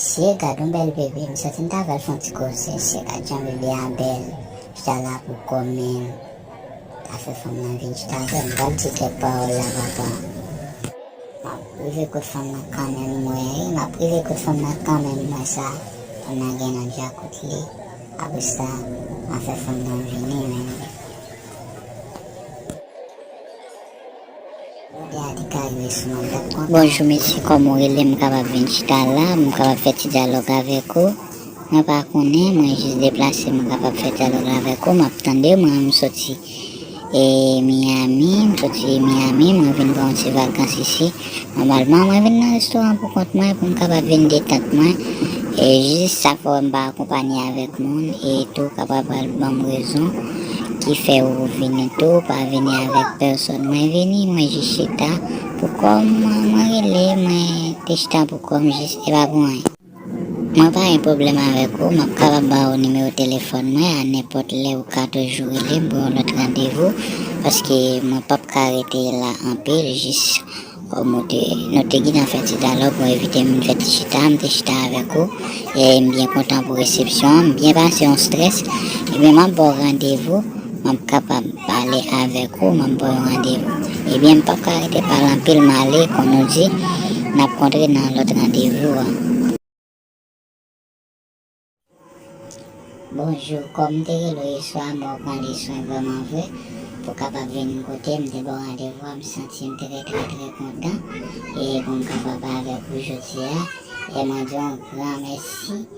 Mesye gadon bèl bebe m soti m ta vèl fon ti koze mesye gad jan bebe a bèl chita la pou kòm menm ta fè fanm nan vin chita avèm m pral di kèk pawòl la papa map rive kot fanm nan kanmenm m wè wi map rive kot fanm nan kanmenm m wè sa fanm nan gen nan djakout li apresa ma fè fanm nan vini menm. Bonjou mesye kòman ou rele m kapab vin chita la m kapab fè ti dyalòg avèk ou mwen pa konnen mwen jis deplase m kapab fè dyalòg la avèk ou map tande w mwen soti Miami mwen vin pran yon ti vakans isi. Nòmalman mwen vin nan restoran an poukont mwen pou m kapab vin detant mwen, e jis sa fè wè m pa akonpanye avèk moun e tou w kapab pral ban m rezon ki fè ou vini tou w pa vini avèk pèsòn. Mwen vini, mwen jis chita poukò m, mwen rele, mwen te chita poukò m jis, e pa pou anyen. Mwen pa gen pwoblèm avèk ou, m ap kapab ba ou nimewo telefòn mwen a nenpòt lè ou ka toujou rele m pou yon lòt randevou paske mwen p ap ka rete la anpil jis nou te nou te gentan fè ti dyalòg ou envite m vin fè ti chita m te chita avèk ou e m byen kontan pou resepsyon an m byen pase yon strès ebyen m ap ba w randevou Map kapab pale avek ou map baw yon randevou. Ebyen m pap ka rete pale anpil male kon nou di nap kontre nan lot randevou an. Bonjou kòm te rele w yeswa m wè w pran de swen vrèman vre pou kapab vin kote m te baw randevou a m santi m trè trè trè kontan e pou m kapab avek ou jodia e mwen di w yon gran mèsi.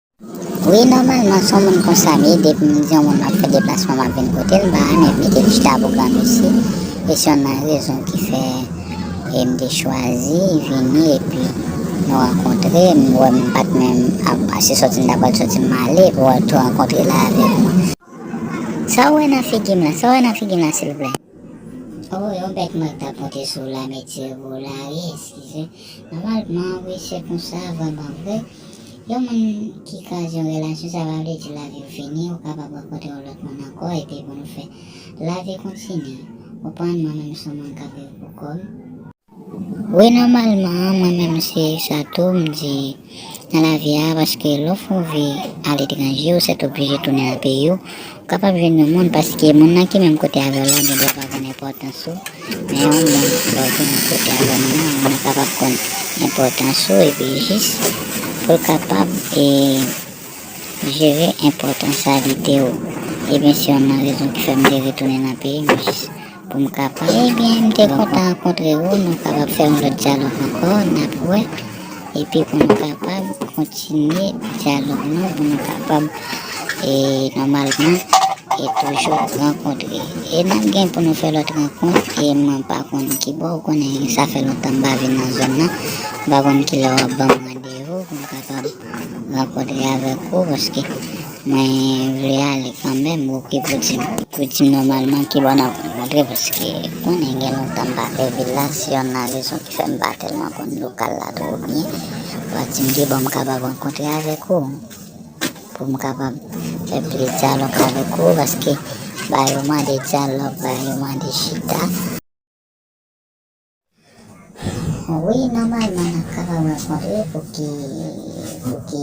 Wi nòmalman son moun konsa m ye depim di yon moun map fè deplasman map vin kotel m pa renmen mete chita pou gran mesye e se yonn nan rezon ki fè m te chwazi vini epi nou rankontre m wè m pat menm ap ase sòti m ta pral sòti m ale pou al tou rankontre la avèk ou. Sa ou wè nan figi m la? Sa ou wè nan figi m la silvouplè? Oh yon bèt mwen k tap monte sou la mèt tirevou la wi eskize nòmalman wi se konsa vrèman vre. Yon moun ki kraze yon relasyon sa pa vle di lavi w fini, ou kapab rankontre yon lòt moun ankò epi pou nou fè lavi kontinye ou konprann mwen menm son moun kap viv pou kòm, wi nòmalman mwen menm se sa tou m di nan lavi a paske lè w fè yon vi aletranje ou sètoblije tounen nan peyi w Ou kapab jwenn yon moun paske moun nan ki menm kote avèw la gen dwa pa konn enpòtans ou, men yon moun lèw ki menm kote avèw nan moun nan kapab konn enpòtans ou epi jis poul kapab e jere enpòtansyalite ou, ebyen se yonn nan rezon ki fèm te retounen nan peyim jis. Pou m ka pale. Ebyen m te kontan rankontre ou nou kapab fè yon lòt dyalòg ankò nap wè epi pou nou kapab kontinye dyalòg nou pou nou kapab e nòmalman e toujou rankontre e nap gen pou nou fè lòt rankont e mwen pa konn kibò ou konnen sa fè lontan m pa vin nan zòn nan m pa konn kilè wap banm randevou pou m kapab M rankntre avèk ou paske mwen vle ale kanmenm ou ki pou di m. Pou di m nòmalman ki bò n ap rankontre paske konnen gen lontan m pa fè vil la si yon nan rezon ki fè m pa tèlman konn lokal la twò byen ou a di m ki bò m kapab rankontre avèk ou pou m kapab fè plis dyalòg avèk ou paske ba yo mande dyalòg ba yo mande chita. Wi nòmalman nap kapab rankontre pou ki pou ki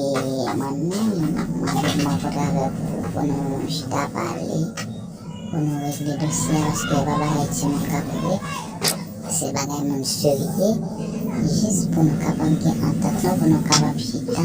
amannman mwen vle rankontre avèk ou pou nou chita pale pou nou regle dosye a paske se pa bagay timoun kap regle se bagay moun serye jis pou nou kapab gen antant nou pou nou kapab chita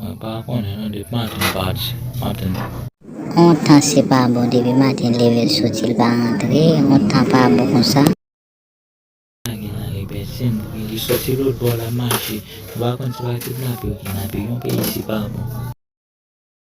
Mwen pa konnen non depi maten pati maten. On tan se pa bon depi maten leve l soti l pa rantre on tan pa bon konsa. Sa gen la libertine pou ki li soti lot bò lap mache ou pa konn se pa kidnape yo kidnape yon peyi se pa bon.